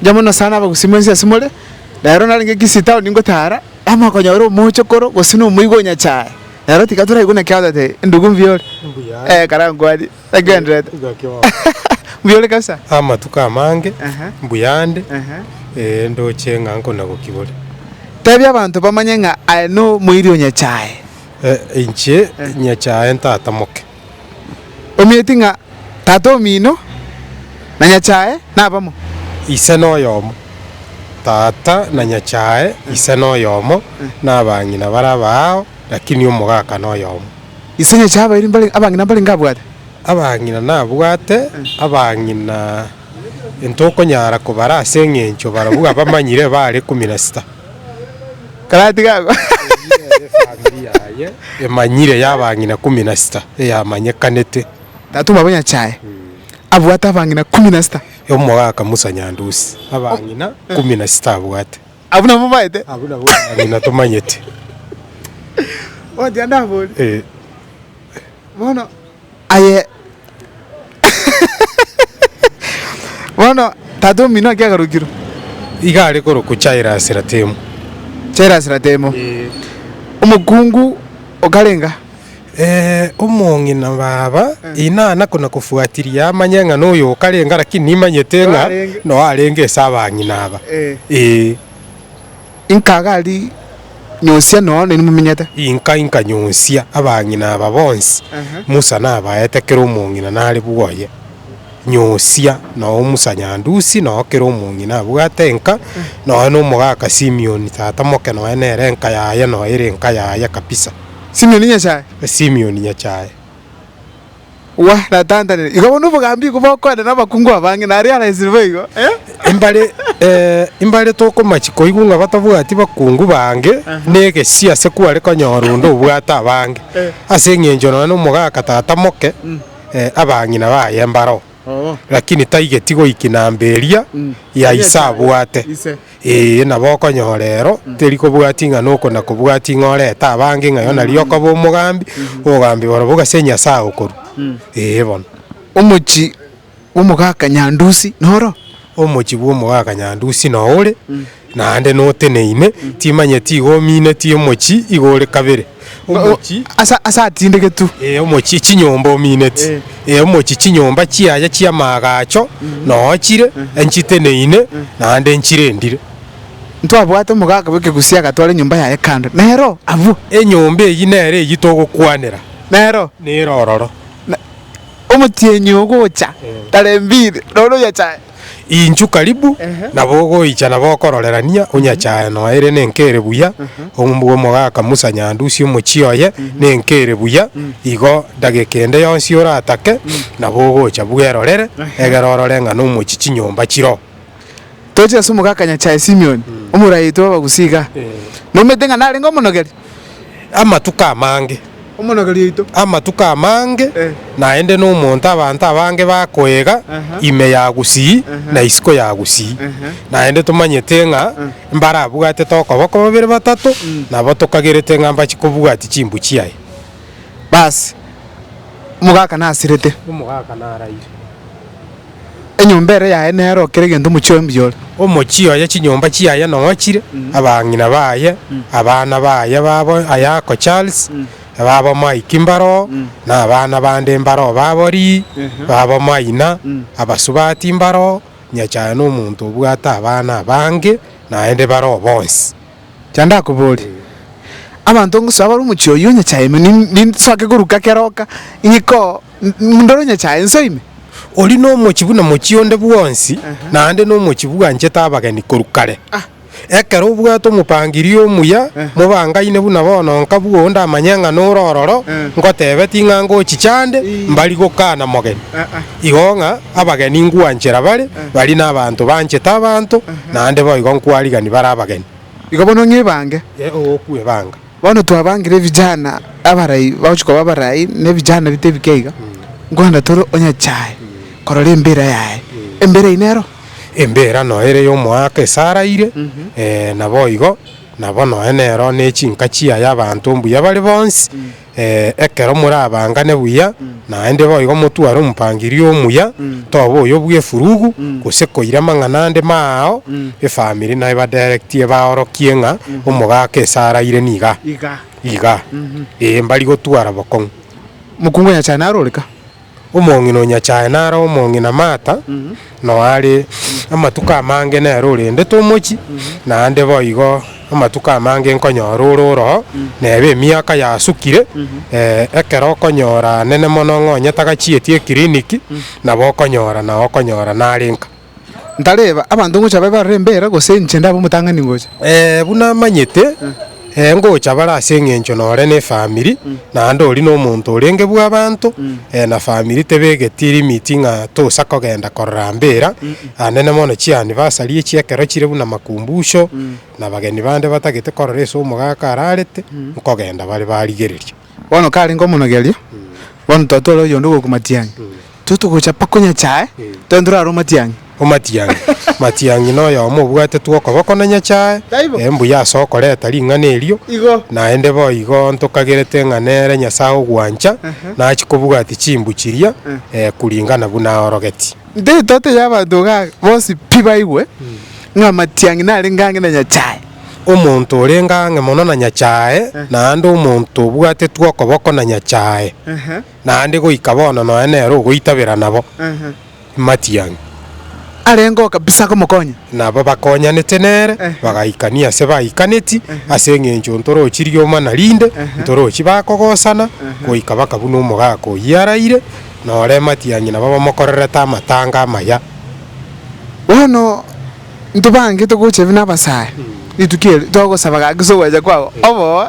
Inche mono sana abagusii mwensi ase more, na ero narenge Kisii town ingotara, namokonyora omochokoro gose na omoigwa onyachae, na ero tiga toraigwe naki agotebi, Ndugu mbuya ore? Mbuya. Eh, karaa nkwanie, nagenderete. Gaki oo. Mbuya ore kabisa? Amatuko amange, Aha. mbuya nde, Aha. eh, ndoche ng'a nkonagoki bore. Tebia abanto bamanye ng'a aye nomoiri onyachae. Eh, inche nyachae ntatamoke. omanyeti ng'a Tata omino, na Nyachae nabamo. Ise noyomo, Tata na Nyachae Ise noyomo, na abang'ina bare abaao, lakini Omogaka noyomo. Ise Nyachae abairi mbare abang'ina mbarenge abwate. Abang'ina nabwate abang'ina intokonyara kobara as'engencho barabwo abamanyire bare ikomi na sita. efamiri yaye emanyire y'abang'ina ikomi na sita eyamanyekanete. Tatoma bonyachae, abwate abang'ina ikomi na sita. Omogaka Musa Nyandusi abang'ina ikomi na sita abwate. Abwo nabwo omaete? Abwo nabwo abang'ina tomanyete. Ogochia ndabori. Bono. Aye bono tata omino naki agarokirwe? Iga are korokwa Chairasi-Ratemu. Chairasi-Ratemu. Omokungu okarenga. Ee, omong'ina baba, inana konakofuatiria amanye ng'a noyo okarenga, lakini nimanyete ng'a noyo arenge ase abang'ina aba. Ee. Inka gari nyonsia nonya neri mumenyete. Inka inka nyonsia abang'ina aba bonsi Musa nabaete kera omong'ina nare bwoye. Nyonsia nonya Musa nyandusi nonya kera omong'ina abwate enka nonya nomogaka Simioni tata moke nonya nere enka yaye nonya ere enka yaye kabisa. Simioni nyasae. Simioni nyasae. Wa, natantanire. Iga bono obogambi igo bokoenda nabakungu abange, naria araesire boigo, eh? Imbare, eh, imbare tokomachia koigwa ng'a batabwati bakungu bange, na egesie ase kware konyora onde obwate abange, ase engencho nonya nomogaka tata moke, eh, abang'ina baye mbaro. Lakini taigeti goiki namba eria ya ise abwate. Ee, nabo okonyora ero teri kobwati ng'a noko na kobwati ng'a orete abange ng'a yona riria okoba omogambi, obogambi barobwo gase Nyasae agokorua. Ee bono. Omochi bw'omogaka Nyandusi noro? Omochi bw'omogaka Nyandusi noore? Naende noteneine, timanyeti igo omineti omochie igo ore kabere, omochie. Ase, ase atindegetwe. Ee, omochie chinyomba omineti. Ee, omochie chinyomba chiaye chi'amaagacho noochire, nchiteneine, naende nchirendire. Ntwabwate omogaka bw'ekegusi agatwara enyomba yaye kando, nero abwo. Enyomba eyio nero eyio togokwanera. Nero. Nero ororo. Omotienyi ogocha tarembire, noro oyachae. Inchu karibu, nabo ogoicha nabo okororerania onyachae nonya ere nenka ere buya, ombua omogaka Musa nyandusie omochie oye nenka ere buya, igo dageka ende yonsi oratake, nabo ogocha bwerorere, egere orore ng'a nomochie chinyomba chiroo. Toche ase omogaka nyachae Simioni, omoraiti bw'abagusi igaa, nomanyete ng'a narenge omonogeri, amatuko amange, Omonageri oito. amatuko amange, Eh. naende nomonto abanto abange bakoiga Aha. ime ya gusii Aha. na isiko ya gusii. Aha. Naende tomanyete ng'a mbarabwate tokoboko babere batato, nabo tokagerete ng'a mbache kobwatia chimbuchi aye. Bas, omogaka nasirete. Omogaka naraire. Enyomba ere yaye nero kera egento omochie oye mbuya ore. Omochie oye chinyomba chiaye nochire, abang'ina baye, abana baye babo Ayako Charles, babo Mike mbaro oo, na abana bande mbaro oo babo Lee, babo Maina, abasubati mbaro oo, Nyachae nomonto obwate abana abange naende bare oo bonsi. Cha ndakobore, abanto ngosoa bare omochie oyio o Nyachae ime, ninsoake koruka kera oka, ing'ikoo. Ndore onyechae ense ime. Oria nomochie buna mochie onde bwonsi, naende nomochie bwanchete abageni korwa kare. Ekero obwate omopangirio omuya, mobangaine buna bono nka bwo onde amanye ng'a nore ororo, ngotebe ting'a ngochicha ande, mbari gokana mogeni. Igo ng'a abageni ngwanchera bare, baria nabanto banchete abanto, naende boigo nkwarigani bare abageni. Igo bono ng'ebange. Ee, ogokwa ebanga. Bono twabangire ebijana abarai bagochia koba abarai na ebijana rita ebi keiga, nkorenda tore onye chae korora embira yaye. Embira eyio nero? Embira noyo ere y'omoaka esaraire, naboigo nabo nonya nero nechinka chiaye abanto mbuya bare bonsi, ekero morabangane buya. Naende boigo motware omopangiria omuya, toba oyo bw'efurugu, gose koira amang'ana ande maao, efamiri naebadirectie baorokie ng'a omogaka ase araire niga iga, ee, mbari gotwara bokong'u. Mokungu onyachae naro ore ka? Omong'ina onyachae naro omong'ina maata, Noare amatuko amange nere orendete omochie, naende boigo amatuko amange nkonyore ore oroo, neba emiaka yasukire, eh, ekero okonyora nene mono ng'a onye tagachieti eclinic, nabo okonyora nao okonyora nare nka. Ntareba, abanto ngocha babe barore embera, gose inche ndabe omotang'ani ngocha? Eh, buna amanyete. Ee, ngocha bare ase engencho nore nefamiri, naende ori nomonto orenge bw'abanto, ee, na famiri tebegeti limiti ng'a tosa kogenda korora mbera, anene mono chianivasari echi ekero chire buna makumbusho, na bageni bande batagete korora ase omogaka ararete, nkogenda bare barigereria. Bono karenge omonogerio, bono twatwara oyonde ogokwa matianyi, Intwe togochapa konya chae, tore ntorare omatiang'i. Omatiang'i. Matiang'i noyomo obwatetwe okoboko na nyachae, e mbuya ase okoreta ring'ana erio, naende boigo ntokagerete ng'a nere Nyasae ogwancha, nachia kobwati chimbu chiria, e kuringana buna aorogetie. Intwe etoto y'abanto iga aa, bonsi pi baigwe ng'a amatiang'i narenge ang'e na nyachae. Omonto orenge ang'e mono na nyachae, naende omonto obwatetwe okoboko na nyachae. naende goika bono nonya nere ogoitabera nabo matiang'i. Arengeo kabisa komokonya. Nabo bakonyanete nere, bagaikania ase baikaneti, ase engencho ntorochi rioma na rinde, ntorochi bakogosana, goika bakabuna omogaka oyio araire, na ore matiang'i nabo bamokorerete amatanga amaya. Bono. Ntobangete gocha ebi nabasae rituko eri, togosaba gaki ase ogwecha kwabo oboo.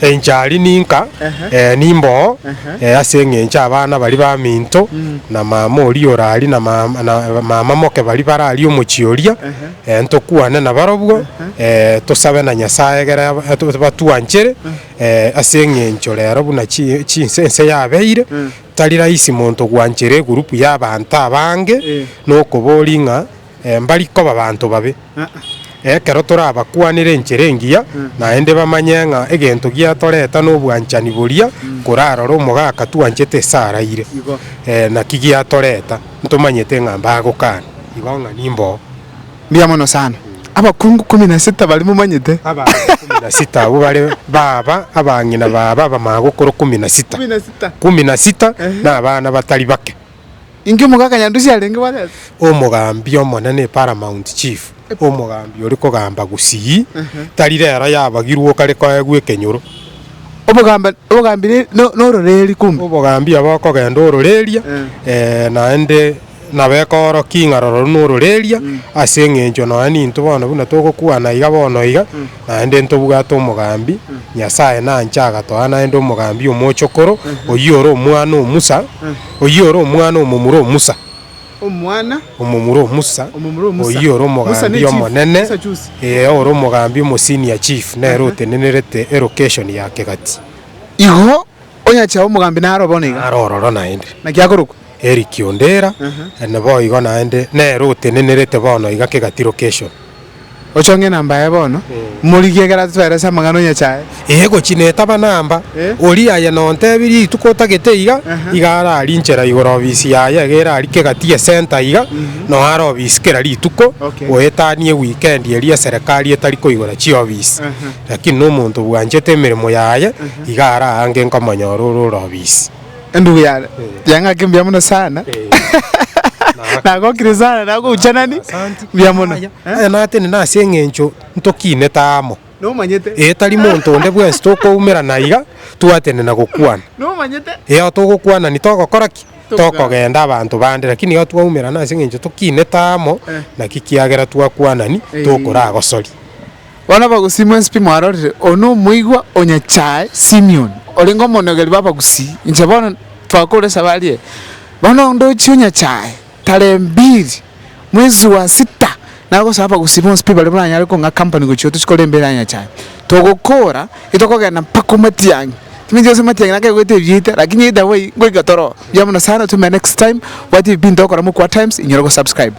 Enchari ninka, ee, nimboo, ee, ase engencho abana baria baminto, na mama oria oraria na mama, na mama moke baria bararie omochie oria, ee, ntokwane nabarobwo, ee, tosabe na Nyasae egere aba, batwanchere, ee, ase engencho rero buna chi, chi, ense yabeire, tari rahisi monto gwanchera egurupu y'abanto abange, nokoboria ng'a. Mbari koba banto babe. Ekero torabakwanere enchera engiya, naende bamanye ng'a egento giatoreta nobwanchani boria korarore omogaka twanchete ase araire. Naki giatoreta? Ntomanyete ng'a mbagokana. Igo ng'a nimboo. Mbuya mono sana. Abakungu ikomi na sita baria momanyete? Abanto ikomi na sita abwo bare baba abang'ina baabo abamagokoro ikomi na sita. Ikomi na sita nabana batari bake. Inki omogaka Nyandusi arenge bwatete? Omogambi omone ne Paramount Chief, omogambi ore kogamba Gusii, tari rero yabagirwe okare koegwa ekenyoro. Obogamba obogambi ne no nororeri kumbe. Obogambi aba okogenda ororeria eh naende nabo ekoorokia ing'a roro runa ororeria ase eng'encho nonya nintwe bono buna togokwana iga bono iga, Naende ntobwate omogambi, Nyasae nanche agatoa naende omogambi omochokoro, oyio ore omwana o Musa, oyio ore omwana omomura o Musa, Omwana omomura o Musa, omomura o Musa. oyio ore Musa omogambi nechief, omonene, Musa chusi. ee, ore omogambi omo-senior chief, nere Aha. otenenerete elocation ya kegati. Igo Onyache abe omogambi naro o bono iga. Naro ororo naende. Naki akorokwa. Eric Ondera, ere boigo naende nere otenenerete bono iga kegati location. Ochong'e enamba yaye bono, morigie ekero atotoerese amang'ana onyache aye. Ee gochia netaba namba, oria aye nontebirie rituko otagete iga, iga ara aria inchera igoro ofisi yaye iga ere aria kegati e center iga, noe are ofisi kera rituko, goetania weekend eria eserekari etari koigora chiofisi. Lakini nomonto obwanchete emeremo yaye. Iga ara aange nkomonyora ore orobisi. Endugu yane, yang'ake mbuya mono sana. Nagokire sana, nagoucha nani? Mbuya mono. Yaya, yaya natene nase eng'encho ntokinete amo. Nomanyete. Ee, tari monto onde bwensi tokoumera na iga twatene na gokwana. Nomanyete. Eao togokwanani togokora ki? Tokogenda abanto bande, lakini iga twaumerana ase eng'encho tokinete amo, naki kiagera twakwanani tokoragosoria. Bono abagusii mw'ensipi mwarorire, oyo nomoigwa o nyachae Simion, orenge omonogeri bw'abagusii, inche bono twakoure saba arie. Bono ondochie o nyachae tarembiri mwezi wa sita nagosaba abagusii bonsi pi bare baranyare kong'a company gochia otochiko rembiri aria nyachae, togokoora itokogenda mpaka o matiang'i. Chiminto chionsi matiang'i nakegoeta ebiaite, lakini either way ngoika toroo. Buya mono sana, otomere next time, obwate ebipinto ogokora mokuwa times, inyore gosubscribe.